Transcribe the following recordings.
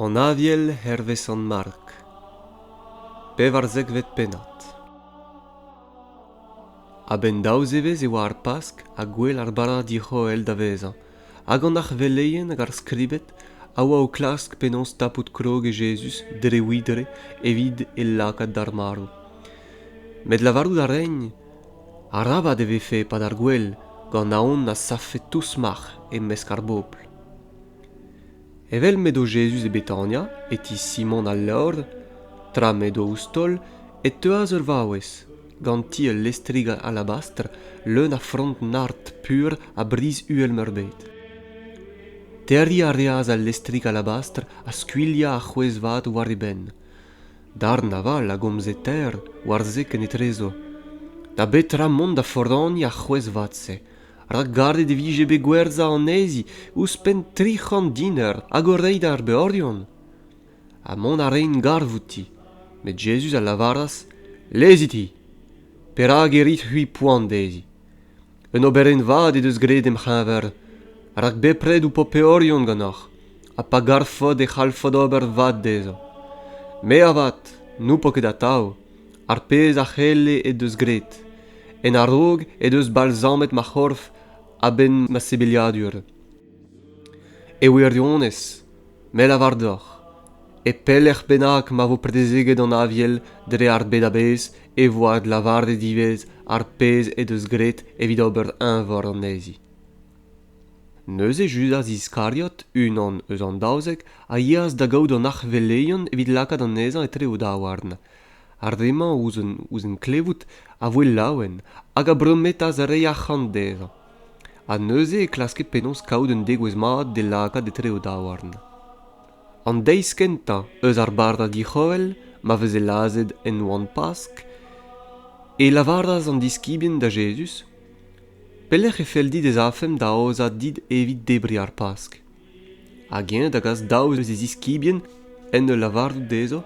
an aviel hervez sant mark pevarzekvet pennad a-benn daou zevezh e oa ar pask ha gwell ar barradi c'hoel da vezañ hag an arveleien hag ar skribed a oa o klask penaos tapout krog e jezuz dre widre evit e lakaat d'ar marv met lavarout a raent Arabat e vefe e-pad ar gwel gant aon a savfe tousmac'h e-mesk ar bobl. Evel m'edo Jezuz e Betania, e ti Simon al Levr, tra m'edo ouzh taol, e teuas ur vaouez, ganti ul lestrig alabastr leun a frond nart pur ha brizh uhel-meurbet. Terriñ a reas al lestrig alabastr ha skuilhañ ar c'hwezh vat war e benn, darn aval a gomze ter war se ken etrezo da betra mont da foraniñ ar c'hwezh-vat-se rak garet e vije bet gwerzhañ anezhi ouzhpenn tri c'hant diner hag o reiñ d'ar beorion ha mont a raent garv outi met Jezuz a lavaras lezit-hi perak e rit-c'hwi poan dezhi Un oberenn vat he deus graet em c'heñver, rak bepred ho po peorion ganeoc'h, ha pa garfot e c'hallfot ober vat dezhañ. Me avat n'ho po ket atav ar pezh a c'helle he deus graet, en a-raok he deus balzamet ma c'horf a-benn ma sebeliadur. E wirionez, me 'lavar deoc'h, e pelec'h bennak ma vo predezeget an Aviel dre ar bed a-bezh e vo adlavaret ivez ar pezh he deus graet evit ober eñvor anezhi. Neuze Judas Iskariot, unan eus an daouzek, a yeas da gaout an arc'heveleion evit lakaat anezhañ etre o daouarn. Ar re-mañ, ouzh en klevout, a voe laouen hag a brometas reiñ arc'hant dezhañ. Ha neuze e klaske penaos kaout un degouezh mat d'e lakaat etre o daouarn. An deiz kentañ eus ar barrad dic'horell ma veze lazhet en oan-Pask e lavaras an diskibien da Jezuz, Pelec'h e fell dit ez afemp da aozañ dit evit debriñ ar Pask? hag-eñ da gas daou eus e ziskibien en ul lavarout dezho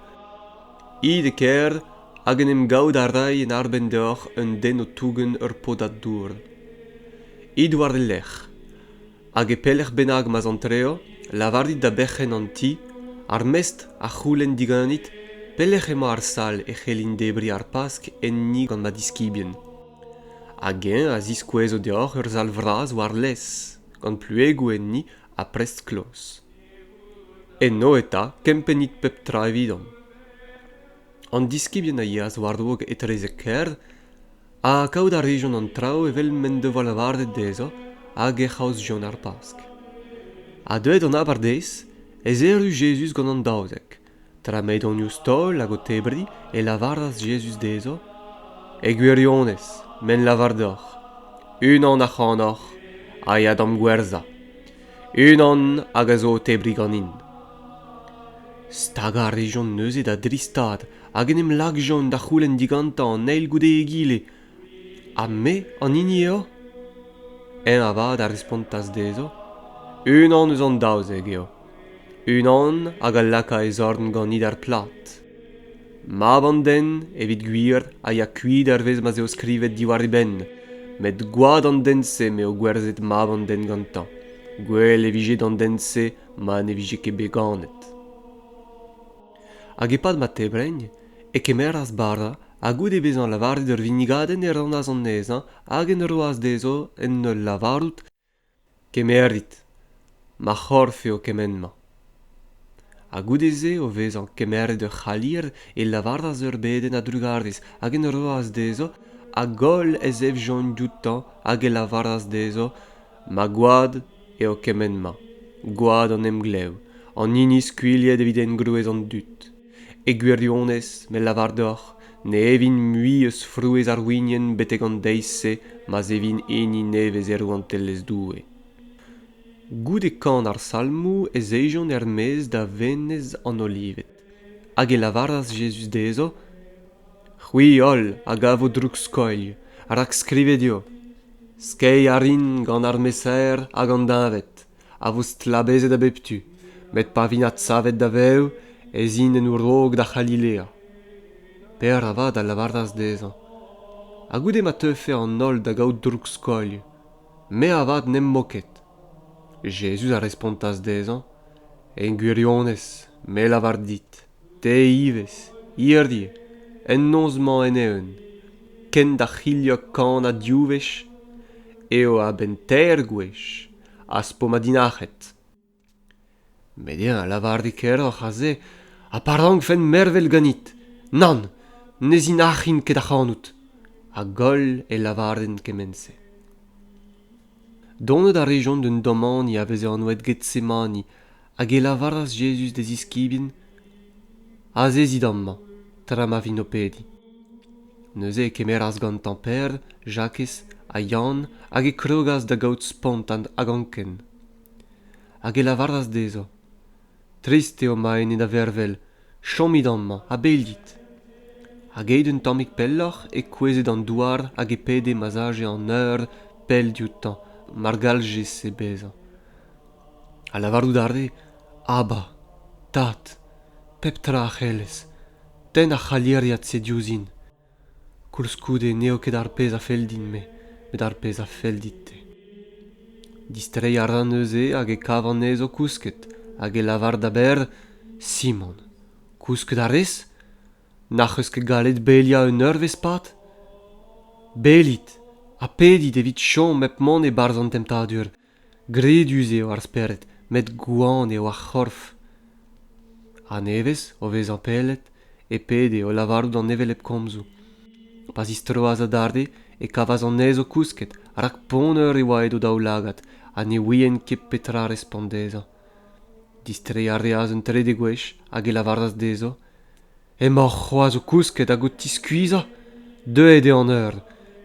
it e kêr hag en em gavout a ray en arbenn deoc'h un den o tougen ur podad dour it war e lerc'h hag e pelec'h bennak ma'z antreo lavarit da berc'henn an ti ar mestr a c'houlenn diganit pelec'h emañ ar sal e c'hellin debriñ ar pask enni gant ma diskibien hag-eñ a ziskouezo deoc'h ur sal vras war-lez gant pluegoù enni ha prest kloz. Eno eta kempennit pep tra evidomp. An diskibien a yeas war-dro etrezek kêr ha kaout a rejont an traoù evel m'en devoa lavaret dezho hag ec'h aozjont ar Pask. Ha deuet an abardaez, ez erru Jezuz gant an daouzek, Tra m'edonius-taol hag o tebriñ e lavaras Jezuz dezho, E gwirionez, me ne lavar deoc'h, unan ac'hanoc'h a ya d'am gwerzhañ, unan hag a zo o tebriñ ganin. Stagañ a rejont neuze da dri stad hag en em lakjont da c'houlenn digantañ an eil goude egile Ha me an hini eo? Eñ avat a respontas dezho, Unan eus an daouzek eo, unan hag a laka e zorn ganit er plad. Mab an den, evit gwir, a ya kuit hervez ma 'z eo skrivet diwar e benn, met gwad an den-se m'eo gwerzhet mab an den gantañ. Gwell e vije d'an den-se ma ne vije ket bet ganet. hag e-pad ma tebreiñ e kemeras bara ha goude bezañ lavaret ur vinnigadenn e rannas anezhañ hag en roas dezho en ul lavarout kemerit ma c'horf eo kement-mañ ha goude-se o vezañ kemeret ur c'halier e lavaras ur bedenn a-drugarez hag en roas dezho a-goll ez efjont dioutañ hag e lavaras dezho ma gwad eo kement-mañ gwad an emglev an hini skuilhet evit engroez an dud e gwirionez me lavar deoc'h ne evin mui eus frouezh ar winienn betek an deiz-se ma'z evin hini nevez e rouantelezh doue goude kan ar salmoù ez ejont er-maez da venez an olived Hag e lavaras Jezuz dezho, C'hwi holl a gavo droug-skoilh, rak skrivet eo, Skeiñ a rin gant ar mesaer hag an deñved, a vo stlabezet a bep tu, met pa vint adsavet da vev, ez int en o raok da C'halilea. Pêr avat a lavaras dezhañ, Ha goude ma teufe an holl da gaout droug-skoilh, me avat n'em bo ket. Jezuz a respontas dezhañ, En gwirionez, me a lavar dit, te ivez, hirie, en noz-mañ en-eeun, kent da c'hilhañ kan ha div wech, eo a-benn teir gwech az po ma dinac'het. met eñ a lavar dit keroc'h aze ha pa rankfen mervel ganit nann ne zinac'hin ket ac'hanout a-goll e lavaren kement-se donet a rejont d'un domani a veze anvet getsemani hag e lavaras jezuz d'e ziskibien azezit amañ tra ma vin o pediñ neuze e kemeras gantañ Per Jakez ha Yann hag e krogas da gaout spontan hag anken hag e lavaras dezhañ trist eo ma ene da vervel chomit amañ ha bel dit hag aet un tammig pelloc'h e kouezhe d'an douar hag e pede ma'z aje an eur pell dioutañ mar galljese bezañ ha lavarout a rae aba tad pep tra a c'hellez tenn ar c'halieriad-se diouzhin koulskoude n'eo ket ar pezh a fell din-me met ar pezh a fell dit-te distreiñ a ra neuze hag e kav anezho kousket hag e lavar da berr simon kousket a rez n'ac'h eus ket gallet beliañ un eurvezh-pad belit ha pedit evit chom hep mont e-barzh an temptadur gredus eo ar spered met gwan eo ar c'horf a-nevez o vezañ pellet e pede o lavarout an hevelep komzoù pa zistroas adarre e kavas anezho kousket rak ponner e oa edo daoulagad ha ne ouient ket petra respont dezhañ distreiñ a reas un trede gwech hag e lavaras dezho Emaoc'h c'hoazh o kousket hag o tiskuizhañ? Deuet eo an eur.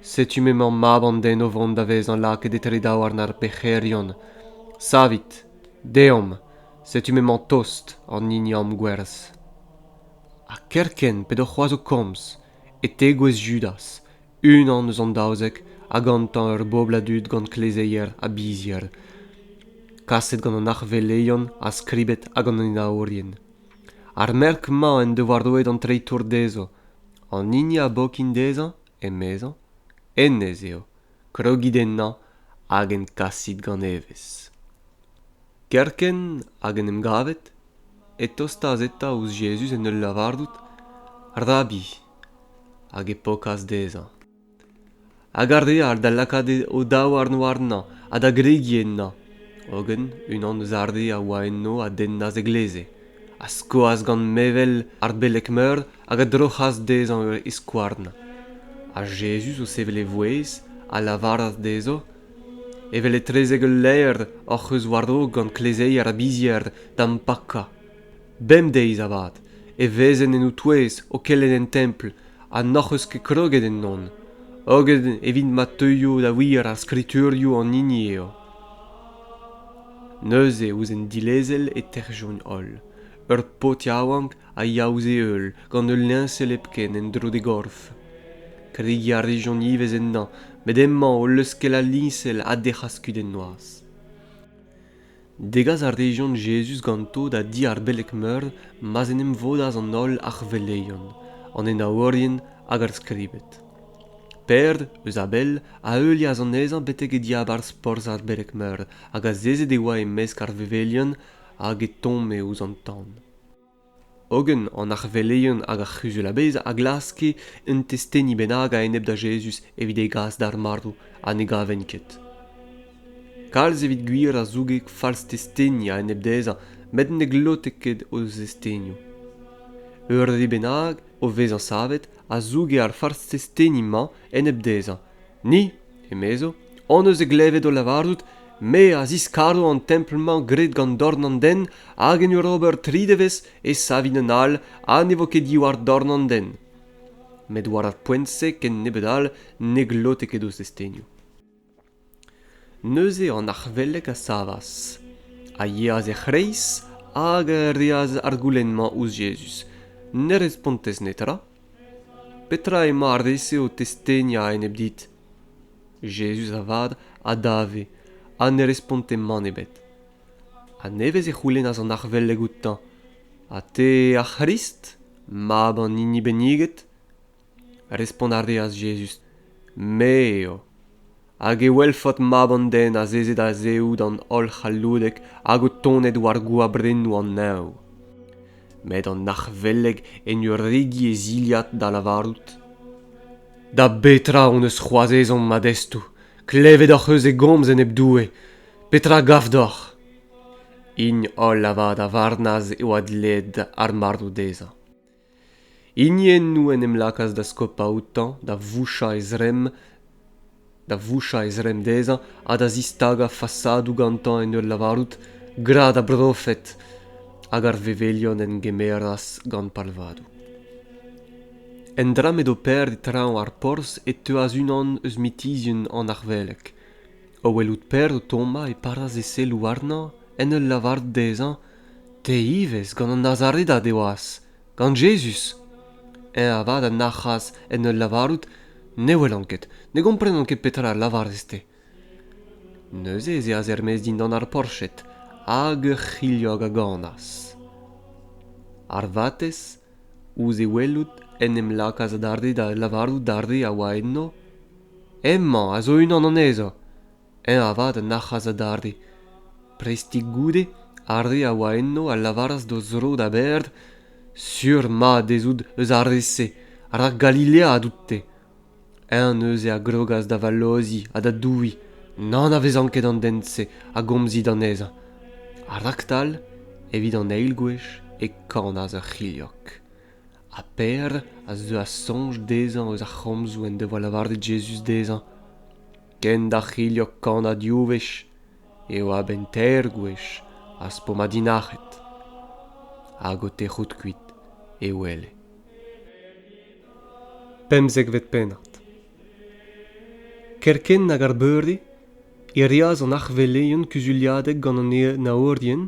Setu m'emañ mab an den o vont da vezañ lakaet etre daouarn ar pec'herion. Savit. Deomp. Setu m'emañ tost an hini amgwerz. Ha kerkent p'edo c'hoazh o komz, e tegouezh Judas, unan eus an daouzek, ha gantañ ur bobl a dud gant klezeier ha bizhier, kaset gant an arc'heveleion ha skribed hag an enaourien. ar merk-mañ en devoa roet an treitour dezhañ an hini a bokin dezhañ emezañ hennezh eo krogit ennañ hag en kasit gant evezh kerkent hag en em gavet e tostas eta ouzh jezuz en ul lavarout rabi hag e pokas dezhañ hag ar re all da lakaat o-daou àrno warnañ ha da gregiñ ennañ hogen unan eus ar re a oa eno a dennas e gleze a skoas gant mevel ar beleg-meur hag a droc'has dezhañ ur c'hiskouarn ha jezuz o sevel e vouezh a lavaras dezho evel etrezek ul laer hoc'h eus war-raok gant klezeier a-bizhier da'm pakañ bemdeiz avat e vezen en ho touez o kelenn en templ ha n'hoc'h eus ket kroget ennon hogen evit ma teuio da wir ar skriturioù an hini eo neuze ouzh an dilezel e tec'hjont holl ur paotr yaouank a ya ouzh e heul gant ul liñsel hepken en-dro d'e gorf kregiñ a rejont ivez ennañ met emañ o leuskel al liñsel ha dec'has kuit en noazh Degas a rejont Jezuz ganto da di ar beleg-meur ma'z en em vodas an holl arveleion, an enaourien hag ar skribed. Pêr, eus Abel, a heulias anezhañ betek e diabarzh porzh ar beleg-meur hag azezet e oa e-mesk ar vevelion hag e tomme ouzh an tan. hogen an arveleien hag ar c'huzul-a-bezh a glaske un testeni bennak a-enep da Jezuz evit e gas d'ar marv ha ne gavent ket. Kalz evit gwir a zouge falz testeni a-enep dezhañ met ne glote ket o zestenioù. Ur re bennak, o vezañ savet, a zouge ar falz testeni-mañ enep dezhañ Ni, emezo, hon eus e glevet o lavarout me a ziskaro an templ-mañ graet gant dorn an den hag en ur ober tri devezh e savin un all ha ne vo ket diwar dorn an den. Met war ar poent-se ken nebeut all ne glote ket ouzh destenioù. Neuze an arc'hvelek a savas, a yeas er c'hreiz hag a reas ar goulenn-mañ ouzh Jezuz. Ne respontez netra, Petra emañ ar re-se o testeni a-enep dit? Jezuz avat a dave ha ne responte mann ebet. A nevez e c'houlennas an arvelleg outañ ha te ar C'hrist, mab an hini benniget? Respont a reas Jezuz me eo. hag e welfot mab an den azezet a-zehoù d'an holl c'halloudek hag o tonet war goabrennoù an neñv. Met an arc'hvelleg en ur regi e zilhad da lavarout Da betra hon eus c'hoazh ezhomm ma destoù? Klevet hoc'h eus e gomz enep Doue. Petra gav deoc'h? Hini holl avat a varnas e oa dleet ar marv dezhañ. Hiniennoù en em lakaas da skopañ outañ, da vouchañ e zremm, da vouchañ e zremm dezhañ ha da zistagañ fasadoù gantañ en ul lavarout gra da brofed hag ar vevelion en gemeras gant palvadoù. Endra m'edo Pêr e traoñ ar porzh e teuas unan eus mitizhien an arveleg. O welout Pêr o tommañ e paras e selloù warnañ en ul lavarout dezhañ te ivez gant an Nazaredad e oas gant Jezuz eñ avat a nac'has en ul lavarout ne welan ket ne gomprenan ket petra a lavarez-te neuze ez eas er-maez dindan ar porched hag ur c'hilhog a ganas ar vatezh ouzh e welout en em lakaas adarre da lavarout d'ar re a oa enno hemañ a zo unan anezho eñ avat a nac'has adarre prestik goude ar re a oa enno a lavaras d'o zro da baeaat sur-mat ez out eus ar re-se rak Galilea a dout-te eñ neuze a grogas da valloziñ ha da douiñ n'anavezan ket an den-se a gomzit anezhañ ha raktal evit an eil gwech e kanas ur c'hilhog ha Per a zeuas soñj dezhañ eus ar c'homzoù en devoa lavaret Jezuz dezhañ kent ar c'hilhog kanañ div wech eo a-benn teir gwech az po madinac'het hag o tec'hout kuit e wele pemzekvet pennad kerkent hag ar beurdi e reas an arveleien kuzuliadeg gant an naourien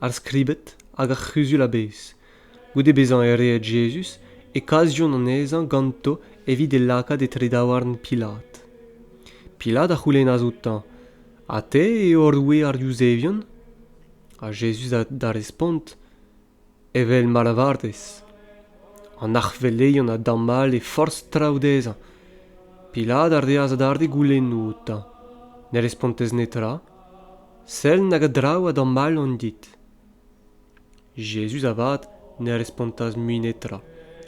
ar skribed hag ar c'huzul a-bezh Goude bezañ erruet Jezuz e kasjont anezhañ ganto evit e lakaat etre daouarn Pilat. Pilat a c'houlennas outañ, Ha te eo roue ar Yuzevion? Ha Jezuz da respont, Evel ma lavarez. An arc'hveleion a damall e forzh traoù dezhañ. Pilat a reas adarre goulennoù outañ. Ne respontez netra. Sell nag a draoù a damall on dit. Jezuz avat ne respontas mui netra,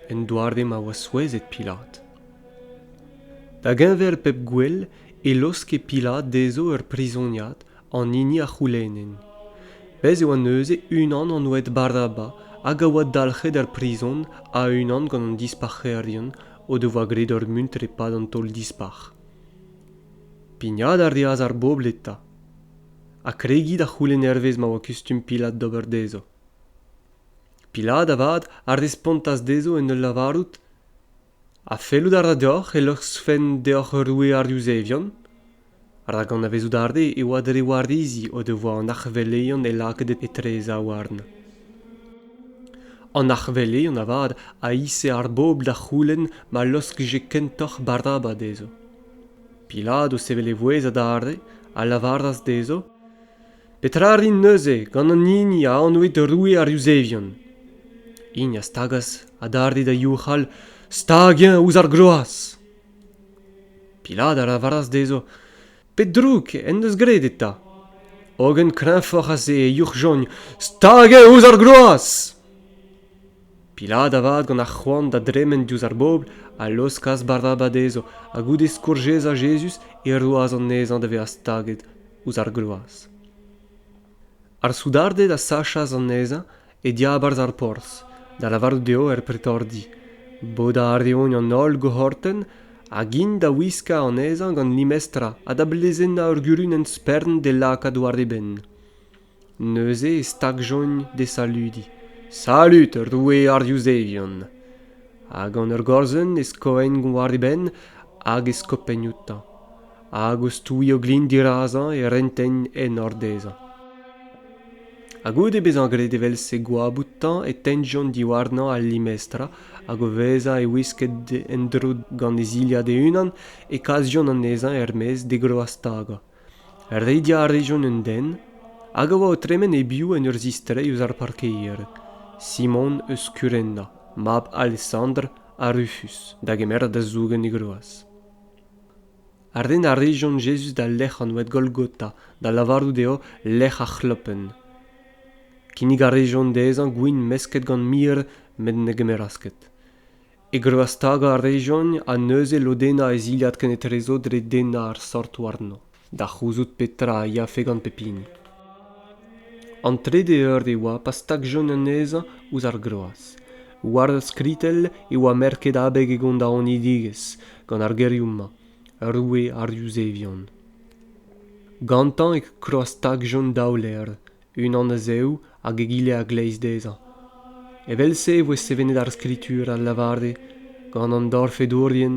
en doare ma oa souezhet Pilat. Da geñver pep gwel e laoske Pilat dezho ur prizoniad an hini a c'houlennent. Bez' e oa neuze unan an oad Barnaba hag a oa dalc'het er prizon a-unan gant an dispac'herien o devoa graet ur muntr e-pad an taol-dispac'h. Pignat a reas ar bobl eta ha kregiñ da c'houlenn hervez ma oa kustum Pilad d'ober dezho. Pilad avat a respontas dezho en ul lavarout ha fellout a ra deoc'h e loskfen deoc'h ur roue ar Yuzevion rak anavezout a rê e oa dre warizi o devoa an arc'hveleion e lakaet etreza warn. An arc'hveleion avat a ise ar bobl da c'houlenn ma loskje kentoc'h Baraba dezho. Piladoù sevel e vouezh adarre a lavaras dezho, Petra rin neuze gant an hini a anvit roue ar Yuzevion? Hini a stagas adarre da youc'hal stag-eñ ouzh ar groaz. Pilad a lavaras dezho, Pet droug en deus graet eta? Hogen kreñvoc'h a se e youc'hjogn stag-eñ ouzh ar groaz! Pilat avat gant ar c'hoant da dremen diouzh ar bobl a laoskas Barnaba dezho ha goude skourjezañ Jezuz e roas anezhañ da vezañ staget ouzh ar gloaz. Ar soudarded a sachas anezhañ e diabarzh ar porzh, da lavarout dezho er pretordi bodañ a reont an holl gohortenn hag int da wiskañ anezhañ gant limestra ha da blezennañ ur gurunenn spern d'e lakaat war e benn. Neuze e stagjont d'e saludiñ Salud, roue ar Yuzevion! Ha gant ur gorzenn e skoent war e benn hag e skopenn outañ, hag o stouiñ o glin dirazañ e rentent enor dezhañ. Ha goude bezañ graet evel-se goap outañ e tentjont diwarnañ al limestra hag o vezañ e wisket en-dro gant e zilhad e-unan e kasjont anezhañ er-maez d'e groaz-tagañ. Rediañ a rejont un den hag a oa o tremen e-biou en ur zistreiñ eus ar parkeier, Simon eus Kurenda, mab Alesandr ha Rufus, da gemer da zougen e groaz. Ren a rejont Jezuz d'al lec'h anvet Golgota da lavarout dezho lec'h ar c'hlopenn. Kinnig a rejont dezhañ gwin mesket gant mir met ne gemeras ket. e greustagañ a rejont ha neuze lodennañ e zilhad kenetrezo dre dennañ ar sort warno da c'houzout petra a yafe gant pep hini. An trede eur e oa pa stagjont anezhañ ouzh ar groaz. War ur skritell e oa merket abeg e gondaonidigezh gant ar gerioù-mañ, roue ar Yuzevion. Gantañ e krostagjont daou levr, unan a-zehoù hag egile a-gleiz dezhañ evel-se e voe sevenet ar skritur al lavare gant an dorfedourien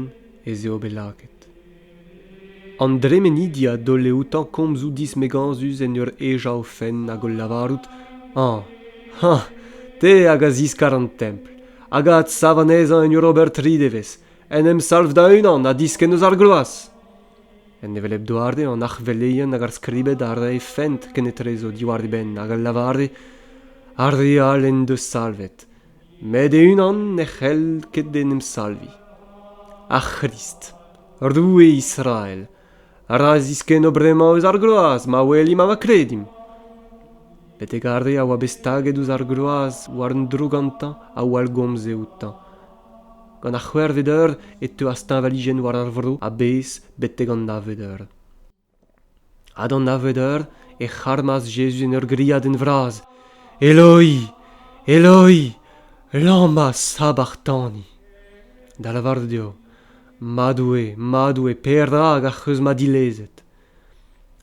ez eo bet lakaet an dremenidi a daole outañ komzoù dismegañsus en ur hejañ o fenn hag o lavarout hañ hañ te hag a ziskar an templ hag a adsav anezhañ en ur ober tri devezh en em salv da-unan ha diskenn eus ar gloaz En hevelep doare, an arc'hveleien hag ar skribed a rae fent kenetrezo diwar e benn hag a lavare ar re all en deus salvet, met e-unan ne c'hell ket en em salviñ. Ar C'hrist, Roue Israel, a ra ziskenno bremañ eus ar groaz ma welimp ha ma kredim. Betek ar re a oa bet staget ouzh ar groaz war un dro gantañ a wallgomze outañ, gant ar c'hwec'hvet eur e teuas teñvalijenn war ar vro a-bezh betek an navet eur ha d'an navet eur e c'harmas Jezuz en ur griadenn vras Eloi, Eloi, lama sabachtani da lavarout eo Ma Doue, Ma Doue, perak ac'h eus ma dilezet?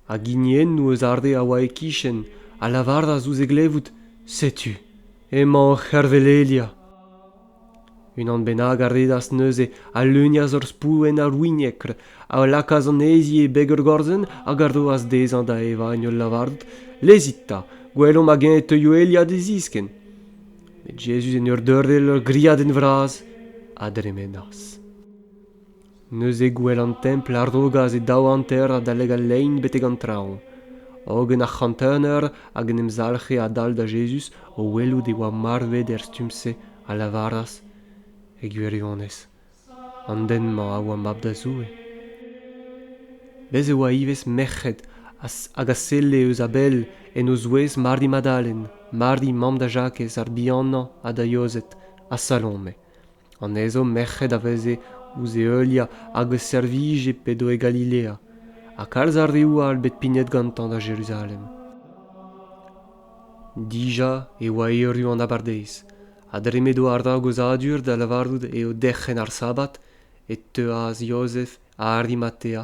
Hag hiniennoù eus ar re a oa e-kichen a lavaras ouzh e glevout Setu, emañ o c'hervelelia. unan bennak a redas neuze a leunias ur spouenn arwiniekr a lakaas anezhi e beg ur gorzenn hag a roas dezhañ da evañ en ul lavard lezit 'ta gwelomp hag-eñ e teuio Elia d'e ziskenn met Jezuz en ur deurel ur griadenn vras a dremenas neuze gouel an templ a rogas e daou hanter adalek al lein betek an traoñ hogen ar c'hantener hag en em zalc'he adal da jezuz o welout e oa marvet er stumm-se a lavaras e gwirionez an den-mañ a oa mab da zoue bez' e oa ivez merc'hed hag a selle eus a-bell en o zouez mari madalen mari mamm da jakez ar bihanañ ha da yozed ha salome anezho merc'hed a veze ouzh e heuliañ hag o servije p'edo e Galilea ha kalz a reoù all bet pignet gantañ da Jeruzalem. Dija e oa erru an abardaez ha dre m'edo ar ragozadur da lavarout eo derc'hen ar sabbat e teuas Jozef ha Arimatea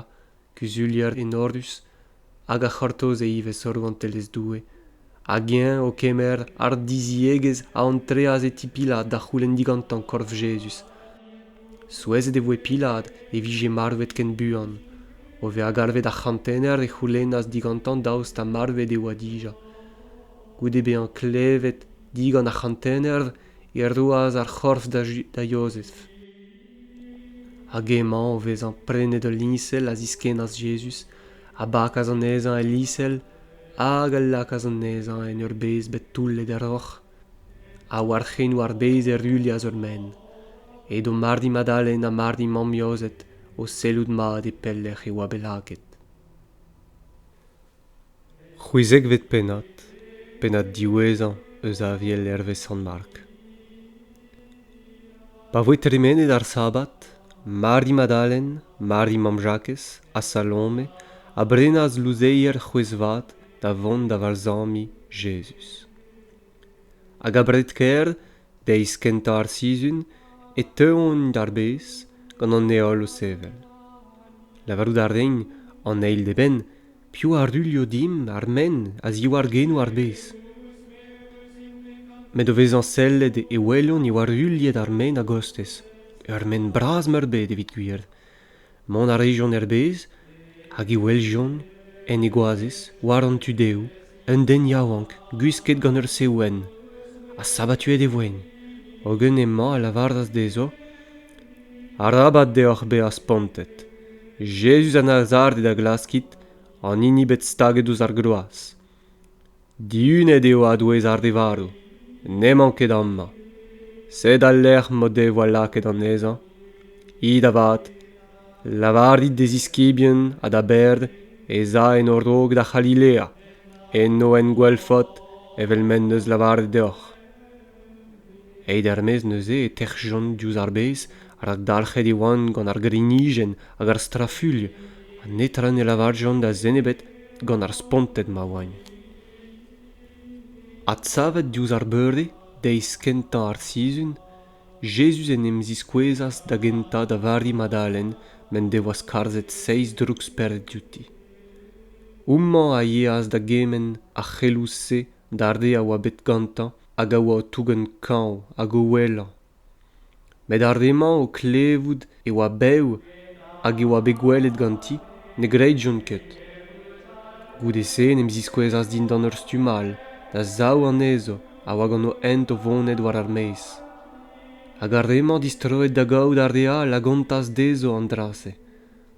kuzulier enorus hag a c'hortoze ivez rouantelezh Doue hag eñ o kemer hardiziegezh a antreas e ti Pilad da c'houlenn digantañ korf Jezuz. Souezhet e voe Pilad e vije marvet ken buan. O vezañ galvet ar c'hantener e c'houlennas digantañ daoust ha marvet e oa dija. Goude bezañ klevet digant ar c'hantener e roas ar c'horf da Jozef. hag emañ o vezañ prenet ul liñsel a ziskennas Jezuz, a bakas anezhañ el liñsel hag a lakaas anezhañ en ur bezh bet toullet er roc'h. Ha war c'henoù ar bez e ruilhas ur menn. Edo mardi Madalen ha mardi Mammiozed o sellout mat e pelec'h e oa bet lakaet. C'hwezekvet pennad, pennad diwezhañ eus aviel hervez Sant-Mark. Pa voe tremenet ar Sabad, Mari Madalen, Mari mamm Jakez ha Salome a brenas louzeier c'hwezh-vat da vont da valzamiñ Jezuz. Hag abred-kaer deiz kentañ ar sizhun e teuont d'ar bez gant an heol o sevel lavarout a rin an eil d'eben piv a ruilho dimp ar men a ziwar genoù ar bez met o vezañ sellet e welont e oa ruilhet ar men a-gostez ur men bras-meurbet evit gwir Mont a rijont er bez hag e weljont, en e goazez, war an tu dehoù, un den yaouank gwisket gant ur seouenn ha sabatuet e voen. Hogen emañ a lavaras dezho, Arabat deoc'h bezañ spontet. Jezuz a Nazareth a glaskit, an hini bet staget ouzh ar groaz. Dihunet eo a-douez ar re varv, n'emañ ket amañ. Sed al lec'h m'o devoa lakaet anezhañ. It avat, lavarit d'e ziskibien ha da Berd ez a en o raok da C'halilea, en o engwelfot evel m'en deus lavaret deoc'h. Aet er-maez neuze e tec'hjont diouzh ar bez rak dalc'het e oant gant ar grignijenn hag ar strafulh ha netra ne lavarjont da zen ebet gant ar sponted ma oain. Adsavet diouzh ar beure, deiz kentañ ar sizhun, Jezuz en em ziskouezas da gentañ da Vari Madalen m'en devoa skarzhet seizh drouksperc'hed diouti. Houmañ a yeas da gement ar c'heloù-se d'ar re a oa bet gantañ hag a oa o tougen kañv hag o ouelañ. met ar re-mañ o klevout e oa bev hag e oa bet gwelet ganti ne gredjont ket goude-se en em ziskouezas dindan ur stumm all da zaou anezho a oa gant o hent o vonet war ar maez hag ar re-mañ distroet da gaout ar re all a gontas dezho an dra-se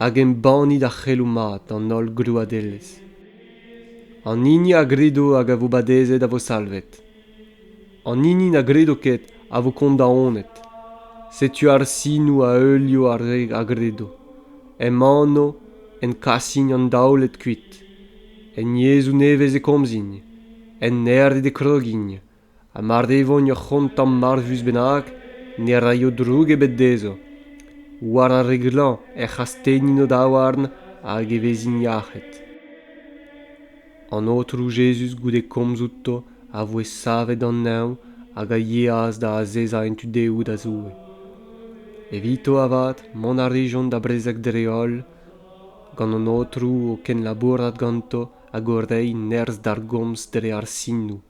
hag embannit ar c'heloù mat an holl grouadelezh an hini a gredo hag a vo badezet a vo salvet an hini na gredo ket a vo kondaonet setu ar sinoù a heulio ar re a gredo em anv en kasin an daouled kuit en yezhoù nevez e komzint en aer eo e krogint ha mar devont ur c'hont tamm marvus bennak ne raio droug ebet dezho war ar re glañv ec'h astennint o daouarn hag e vezint yac'hed an aotrou jezuz goude komz outo a voe savet an neñv hag a yeas da azezañ en tu dehoù da zoue evito avat mont a rejont da brezeg dre-holl gant an aotrou o kenlabourat ganto hag o reiñ nerzh d'ar gomz dre ar sinoù